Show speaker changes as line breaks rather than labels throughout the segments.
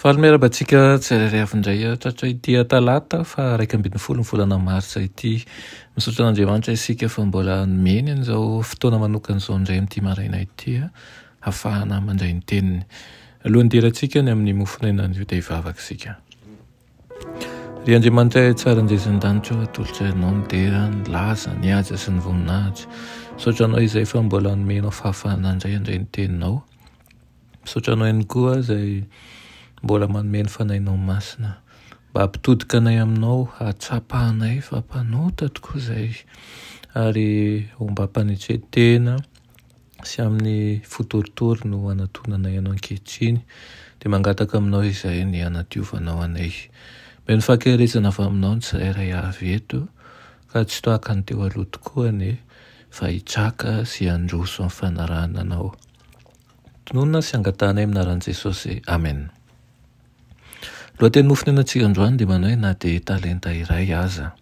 Faly miarahaba antsika tsirairay avy indray hatratra ity Talata faha iraika ambin'ny folo ny volana Martsa ity. Misaotra an'Andriamanitra isika fa mbola nomeny an'izao fotoana manokana izao indray amin'ity maraina ity hahafahana mandray ny teniny. Alohan'ny hidirantsika any amin'ny mofon'aina anio dia hivavaka isika. Ry Andriamanitra tsara anjezindanitra o, atolotra ianao ny dera, ny laza, ny haja sy ny voninahitra. Misaotra anao izay fa mbola nomenao fahafahana indray handray ny teninao. Misaotra anao ihany koa izay mbola manome ny Fanahinao Masina mba hampitodika anay aminao, hahatsapa anay fa mpanota tokoa izay ary ombam-panetren-tena sy amin'ny fo torotoro no anatonanay anao ankehitriny dia mangataka aminao izay ny hanadiovanao anay. Omeo ny fahakerezana avy aminao ny tsirairay avy eto ka tsy tohaka ny teo aloha tokoa anie fa hitraka sy handroso amin'ny fanarahana anao. Tononina sy angatahanay amin'ny anaran'i Jesosy. Amen. Lohateny nofonenatsika androany dia manao hoe na dia talenta iray aza.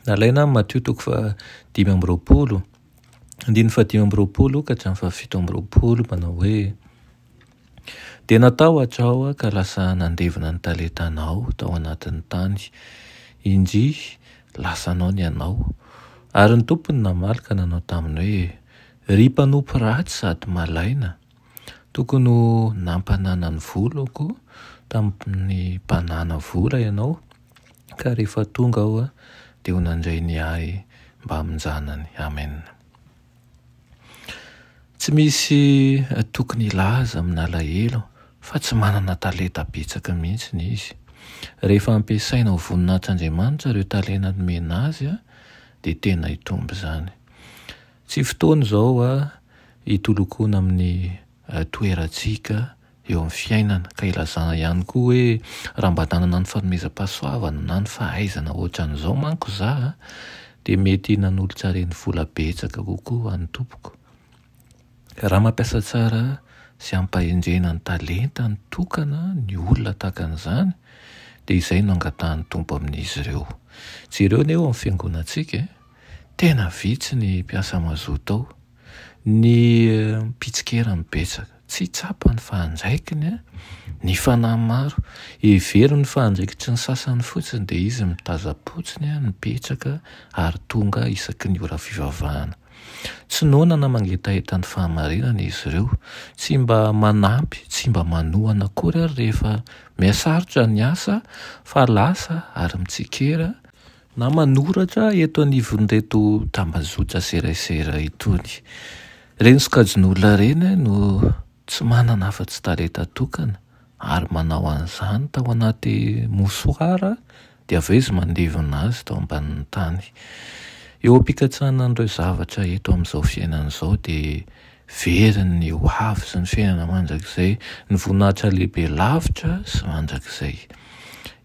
Nalaina amin'ny Matio toko fa dimy amby roapolo, andininy fa dimy amby roapolo ka hatramin'ny fa fito amby roapolo manao hoe dia natao hatrao ka lasa nandevina ny talentanao tao anatin'ny tany. Injy, lasanao ny anao. Ary ny tompony namaly ka nanao taminy hoe Ry mpanompo ratsy sady malaina, tokony ho nampanana ny volako tamin'ny mpanana vola ianao, ka rehefa tonga aho dia ho nandray ny ahy mbamin-janany. Amen. Tsy misy tokony hilaza amin'alahelo fa tsy manana talenta betsaka mihitsy izy. Rehefa ampiasaina ho voninahitr'Andriamanitra ireo talenta nomena azy dia tena hitombo izany. Tsy fotoana izao hoa hitolokona amin'ny toerantsika eo amin'ny fiainana ka ilazana ihany koa hoe raha mba nanana ny fanomezam-pahasoavana na ny fahaizana hoatran'izao manko za dia mety nanolotra renivola betsaka kokoa any tompoko. Raha mampiasa tsara sy ampahendrena ny talentany tokana ny olona tahaka an'izany dia izay no angatahan'ny Tompo amin'izy ireo. Jereo anie eo amin'ny fiangonantsika e! Tena vitsy ny mpiasa mazoto ao. Ny mpitsikera no betsaka. Tsy tsapany fa andraikiny ny fanahy maro. Heveriny fa andraikitry ny sasany fotsiny dia izy mitazam-potsiny mipetraka ary tonga isaky ny ora fivavahana. Tsy noana na mangetaheta ny fahamarinana izy ireo. Tsy mba manampy, tsy mba manohana akory ary rehefa mihasarotra ny asa fa lasa ary mitsikera na manoratra eto anivon'ireto tambazotra serasera itony. Ireny sokajin'olona ireny no tsy manana afa-tsy talenta tokana ary manao an'izany tao anaty mosoara dia avy eo izy mandevona azy tao ambanin'ny tany. Eo am-pikatsahana an'ireo zavatra eto amin'izao fiainana izao dia Very ny hoavy sy ny fiainana mandrakizay, ny voninahitra lehibe lavitra sy mandrakizay.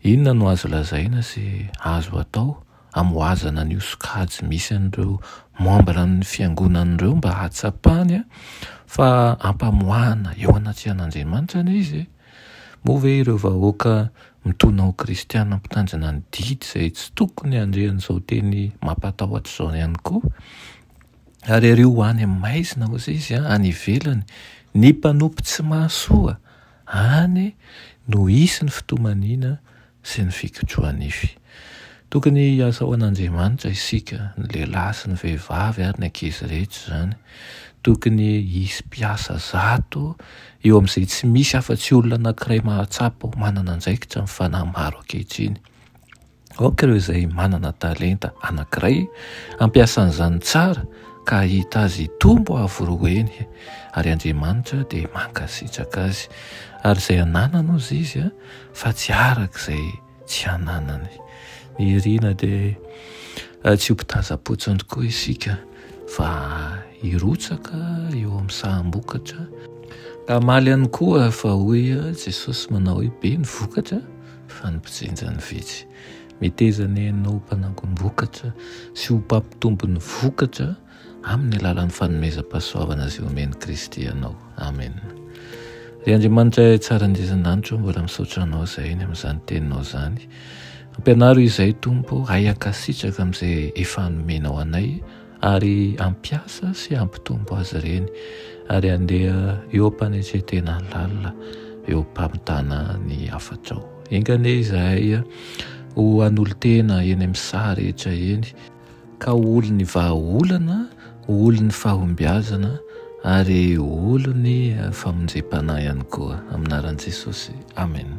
Inona no azo lazaina sy azo atao hamohazana an'io sokajy misy an'ireo membra ny fiangonana ireo mba hahatsapany fa ampamoahana eo anatrehan'Andriamanitra anie izy? Moa ve ireo vahoaka mitona ho kristiana mpitandrina ny didy izay tsy tokony handre an'izao teny mampatahotra izao ihany koa? ary ary ho any amin'ny maizina osa izy a any ivelany ny mpanompo tsy mahasoa any no hisy ny fitomaniana sy ny fikotrohanify tokony hiasa ho an'andriamanitra isika ny lehilahy sy ny vehivavy ary ny ankizy rehetra izany tokony hisy mpiasa zato eo amin'izay tsy misy afa-tsy olona anankiray mahatsapa ho manana andraikitra ny fanahy maro ankehitriny Aoka ireo izay manana talenta anankiray hampiasa an'izany tsara ka hahita azy hitombo avo roa eny, ary Andriamanitra dia mankasitraka azy. Ary izay ananany hozy izy a, fa tsy araka izay tsy ananany. Ny irina dia tsy ho mpitazam-potsiny tokoa isika fa hirotsaka eo amin'ny saham-bokatra. Hamaly ihany koa fa hoy Jesosy manao hoe be ny vokatra fa ny mpijinja no vitsy. Meteza anie ianao ho mpanangom-bokatra sy ho mpampitombo ny vokatra amin'ny alalan'ny fanomezam-pahasoavana izay omen'i Kristy anao. Amena. Ry Andriamanitra Ray Tsara Indrisy An-danitra ô, mbola misaotra Anao izay ny amin'izany Teninao izany. Ampianaro izay, Tompo, hay hankasitraka amin'izay efa nomenao anay, ary hampiasa sy hampitombo azy ireny ary handeha eo am-panetren-tena lalina eo am-pamitana ny hafatrao. Enga anie izahay ho an'olon-tena eny amin'ny saha rehetra eny, ka ho olon'ny vahaolana, ho olon'ny fahombiazana ary ho olon'ny famonjempanahihany koa. Amin'ny anaran'i Jesosy, amena.